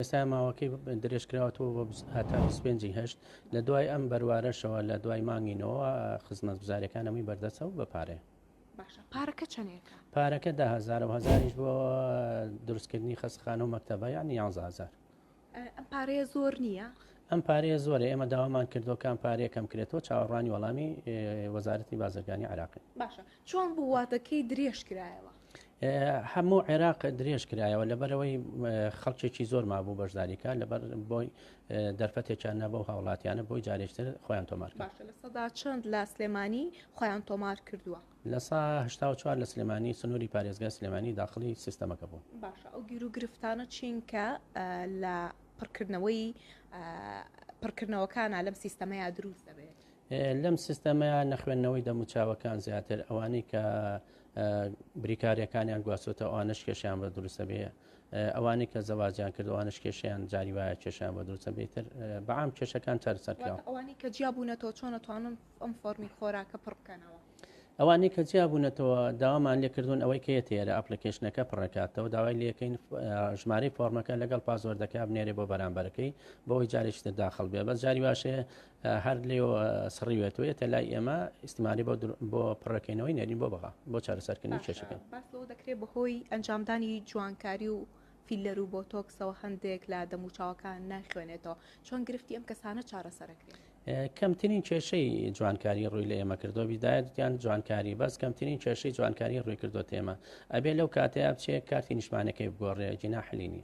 ئێستا ماوەکەی درێژکراوەتەوە بۆ هەتا بیست و پێنج ی هەشت، لە دوای ئەم بەروارەشەوە لە دوای مانگی نۆوە خزمەتگوزاریەکان هەمووی بەردەستە و بە پارەیە. باشە پارەکە چەنێکە؟ پارەکە دە هەزارە و هەزاریش بۆ دروستکردنی خەستخانە و مەکتەبە یانی یانزە هەزار. ئەم پارەیە زۆر نییە؟ ئەم پارەیە زۆرە ئێمە داوامان کردووە کام پارەیە کەم کرێتەوە چاوەڕوانی وەڵامی وەزارەتی بازرگانی عێراقین. باشە چۆن بوو وادەکەی درێژکرایەوە؟ هەموو عێراق درێژ کرایەوە لەبەرەوەی خەڵکێکی زۆر مابوو بەشداریکە لەبەر بۆی دەرفەتێکیان نەبەو هاوڵاتیانە بۆی جارێکتر خۆیان تۆمار سەدا چەند لە سلێمانی خۆیان تۆمار کردووە لە ساهشتاوچوار لە سلێمانی سنووری پارێزگای سلێمانی داخلی سیستەمەکە بوو باشە ئەو گیر و گرفتانە چین کە لە پڕکردنەوەی پڕکردنەوەکانە لەم سیستەمەیە دروست دەبێت لەم سیستەمەیە نەخوێندنەوەی دەموچاوەکان زیاتر ئەوانەی کە بریکارەکانیان گواچۆتە ئەوانش کێشیان بە دروستە بێ ئەوانەی کە زەواجیان کردوانش کێشیان جاری وایە کێشیان بە دروستە بێتتر بەعام کێشەکان چارسەرکراوە ئەوانی کە جیا بوونەتەوە چۆن توانن ئەم فۆرمی خۆراکە پڕ بکەنەوە. ئەوانی کە جیا بوونەتەوە داوامان لێکردون ئەوەی کە تێرە ئەپلیکیشنەکە پڕکاتەوە داوای لەکەین ژمارەی فۆرمەکە لەگەڵ پازۆردەکە بنێرێ بۆ بەرامبەرەکەی بۆی جارێکتر داخل بێ بە جاری واشەیە هەر لێو سڕیوێتەوە یەتە لای ئێمە ئیسمانی بۆ پڕەکەینەوەی نەرین بۆ بەغا بۆ چارەسەرکردنی کێشەکە دەکرێت بەهۆی ئەنجامدانی جوانکاری و فیلەر و بۆ تۆکسەوە هەندێک لە دەموچاوەکان ناخوێنێتەوە چۆن گرفتی ئەم کەسانە چارەسەرەکرێت کەمترین کێشەی جوانکاری ڕووی لە ئێمە کردو بیدایەتیان جوانکاری بەس کەمترین کێشەی جوانکاری ڕووی کردو تێمە ئەبێ لەو کاتەیە بچێت کارتی نیشمانەکەی بگۆڕێ جینا حلینی